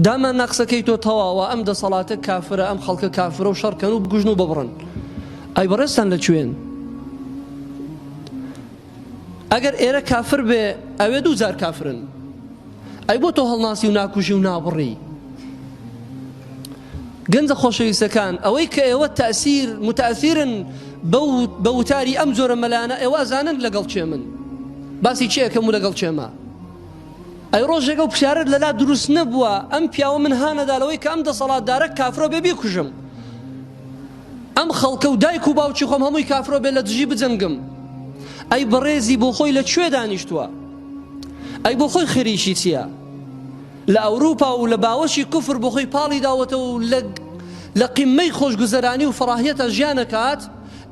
دامان نا قسەکەی تۆ تەواوە ئەم دەسەڵاتە کافرە ئەم خەڵکە کافرە و شەڕکەن و بگوژن و ببڕن ئەی بەڕێستان لە کوێن ئەگەر ئێرە کافر بێ ئەوێ دوو جار کافرن ئەی بۆ تۆ هەڵناسی و ناکوژی و نابڕی گەنجە خۆشەویستەکان ئەوەی کە ئێوە تەسیر متەثیرن بە وتاری ئەم جۆرە مەلانە ئێوە ئەزانن لەگەڵ چێ من باسی چێەکەم و لەگەڵ چێمە ئەی ڕۆژێک ئەو پرسیارەت لەلا دروست نەبووە ئەم پیاوە من هانەدا لەوەی کە ئەم دەسەڵاتدارە کافرۆ بێ بیکوژم ئەم خەڵکە و دایک و باوکی خۆم هەمووی کافرۆ بێ لە دژی بجەنگم ئەی بەڕێزی بۆ خۆی لە کوێ دانیشتووە ئەی بۆ خۆی خریشی چییە لە ئەوروپا و لە باوەشی کوفر بۆ خۆی پاڵی داوەتە و لە لە قیممەی خۆشگوزەرانی و فڕاهیەتە ژیانەکات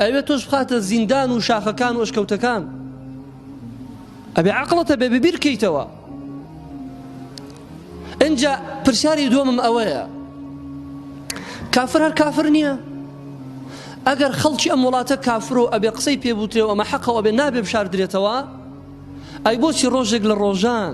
ئەوێ تۆش بخاتە زیندان و شاخەکان و ئەشکەوتەکان ئەبێ عەقڵت هەبێ ببیر کەیتەوە ئینجا پرسیاری دووەمم ئەوەیە کافر هەر کافر نییە ئەگەر خەڵکی ئەم وڵاتە کافر و ئەبێ قسەی پێبوترێ و ئەمە حەقەوە بێ نابێ بشاردرێتەوە ئەی بۆچی ڕۆژێک لە ڕۆژان